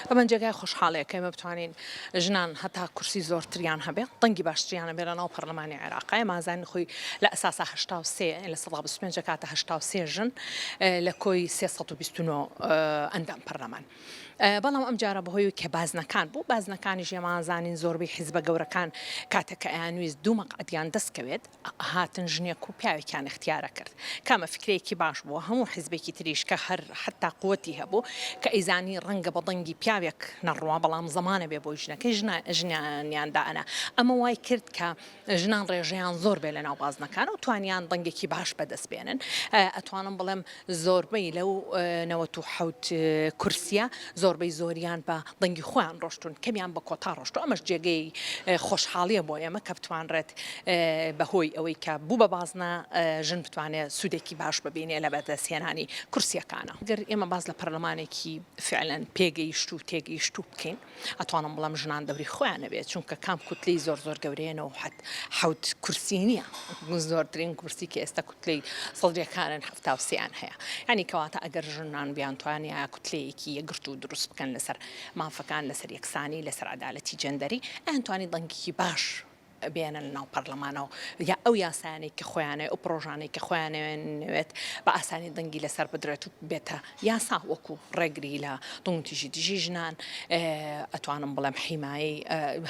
ئەمە جێگای خۆشحاڵیە کە ئێمە بتوانین ژنان هەتا کورسی زۆرتریان هەبێت دەنگی باشتریان هەبێت لە ناو پەرلەمانی عێراق ئێمە ئازانین خۆی لە ئەساسا هەشتا و سێ لە سەدا بیست و پێنج دەکاتە هەشتا و سێ ژن لە کۆی سێ سەد و بیست و نۆ ئەندام پەرلەمان بەڵام ئەم جارە بەهۆی کە بازنەکان بوو بازنەکانیش ئێمە ئازانین زۆربەی حیزبە گەورەکان کاتێک کە ئەیانویست دوو مەقعدیان دەستکەوێت هاتن ژنێک و پیاوێکیان اختیارە کرد کامە فکرەیەکی باش بووە هەموو حزبێکی تریش کە هەر حتا قوتی هەبوو کە ئەیزانی ڕەنگە بە دەنگی پیاوێک نەڕوا بەڵام زەمانە بێ بۆی ژنەکەی ژنیان دائەنا ئەمە وای کرد کە ژنان ڕێژەیان زۆر بێ لە ناو بازنەکان و توانیان دەنگێکی باش بەدەست بێنن ئەتوانم بڵێم زۆربەی لەو نەوەت و حەوت کورسیە زۆربەی زۆریان بە دەنگی خۆیان ڕۆشتون کەمیان بە کۆتا ڕۆشتو ئەمەش جێگەی خۆشحاڵیە بۆ ئێمە کە بتوانرێت بە هۆی ئەوەی کە بوو بە بازنە ژن بتوانێت سودێکی باش ببینێ لە بەدەستهێنانی کورسیەکانە گەر ئێمە باس لە پەرلەمانێکی فعلەن پێگەیشتو تێگەیشتو بکەین. ئەتوانم بڵێم ژنان دەوری خۆیان نەبێت چونکە کام کوتلەی زۆر زۆر گەورەیەەوە حەت حوت کورسی نییە زۆرترین کورسی کە ئێستا کوتلەی سەڵجەکانن هەفتاوسیان هەیە ینی کەواتە ئەگەر ژنان بیانتوانانی یا کوتلەیەکی یەگرت و دروست بکەن لەسەر مافەکان لەسەر یەکسانی لەسەر عدالەتی جەندەری ئەتوانی دەنگیکی باش بێنن ناو پەڕلەمانەوە یا ئەو یاسایانەی کە خۆیانەوێت ئەو پرۆژانەی کە خۆیانەوێت بە ئاسانی دەنگی لەسەر بدرێت و بێتە یاسا وەکو ڕێگری لە دڵنتیژی دژی ژنان ئەتوانم بڵێم حیمایی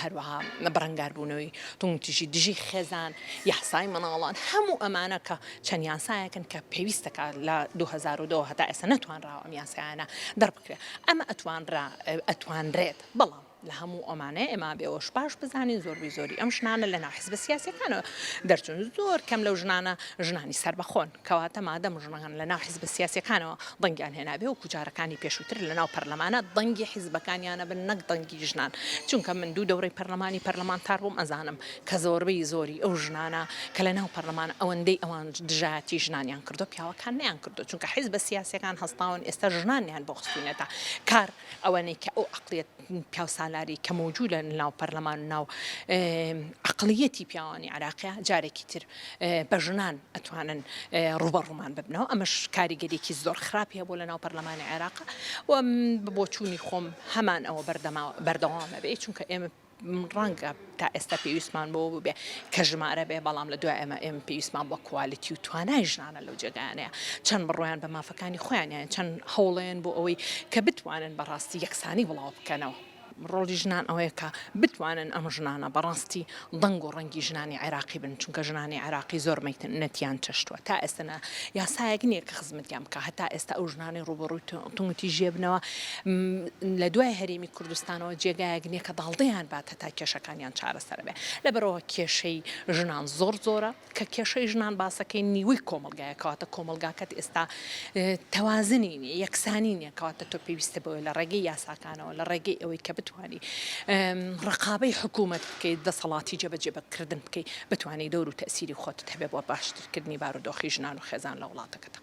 هەروەها بەڕنگاربوونەوەی دڵنتیژی دژی خێزان یاسای مناڵان هەموو ئەمانە کە چەند یاسایەکن کە پێویستەکە لە 2002 هەتا ئێستا نەتوانراوە ئەم یاسایانە دەربکرێت ئەمە ئەتوانرا ئەتوانرێت بەڵام لە هەموو ئەمانە ئێمە بێ ئەوەش باش بزانین زۆربەی زۆری ئەم ژنانە لە ناو حزبە سیاسەکانەوە دەرچون زۆر کەم لەو ژنانە ژنانی سربەخۆن کەواتە مادەم ژنەکان لە ناو حزبە سیاسەکانەوە دەنگیان هێنابێ و کوجارەکانی پێشووتر لە ناو پەرلەمانە دەنگی حیزبەکانیانە بن نەک دەنگی ژنان چونکە من دوو دەورەی پەرلەمانی پەرلەمانتار بووم ئەزانم کە زۆربەی زۆری ئەو ژنانە کە لە ناو پەرلەمان ئەوەندەی ئەوان دژایەتی ژنانیان کردو پیاوەکان نیان کردو چونکە حیزبە سیاسەکان هەستاون ئێستا ژنانیان بۆ خستونەتە کار ئەوەنەی کە ئەو عەقڵیەت پیاوسالارەی کە مەوجودە لە ناو پەرلەمان و ناو عەقڵیەتی پیاوانی عێراقە جارێکی تر بە ژنان ئەتوانن ڕوبەڕوومان ببنەوە ئەمەش کاریگەریکی زۆر خراپی هەبوو لە ناو پەرلەمانی عێراق و بۆچوونی خۆم هەمان ئەوە بەردەما بەردەوامە بێ چونکە ئێمە ڕەنگە تا ئێستا پێویستمان بەوە ببێ کە ژمارە بێ بەڵام لە دوای ئەمە ئێمە پێویستمان بە کوالیتی و توانای ژنانە لەو جێگایانەیە چەند بڕۆیان بە مافەکانی خۆیانیان چەند هەوڵێن بۆ ئەوەی کە بتوانن بەڕاستی یەکسانی بڵاو بکەنەوە. ڕۆڵی ژنان ئەوەیە کە بتوانن ئەم ژنانە بەڕاستی دەنگ و ڕەنگی ژنانی عێراقی بن چونکە ژنانی عێراقی زۆر مەینەتیان چەشتووە تا ئێستا نا یاسایەک نییە کە خزمەتیان بکە هەتا ئێستا ئەو ژنانەی ڕووبەڕووی تونگوتیژیە بنەوە لە دوای هەرێمی کوردستانەوە جێگایەک نیە کە داڵدەیان بات هەتا کێشەکانیان چارەسەر بێ لەبەرئەوە کێشەی ژنان زۆر زۆرە کە کێشەی ژنان باسەکەی نیوەی کۆمەڵگایە کەواتە کۆمەڵگاکەت ئێستا تەوازنی نیە یەکسانی نیە کەواتە تۆ پێویستە بەوەی لە ڕێگەی یاساکانەوە لە ڕێگەی ئەوەی کە بتوانی ڕقابەی حکوومەت بکەیت دەسەڵاتی جێبەجێ بەکردن بکەی بتانی دەور و تەسیری خۆتت هەبێ بۆ باشترکردنی بارودۆخی ژنان و خێزان لە وڵاتەکەتە.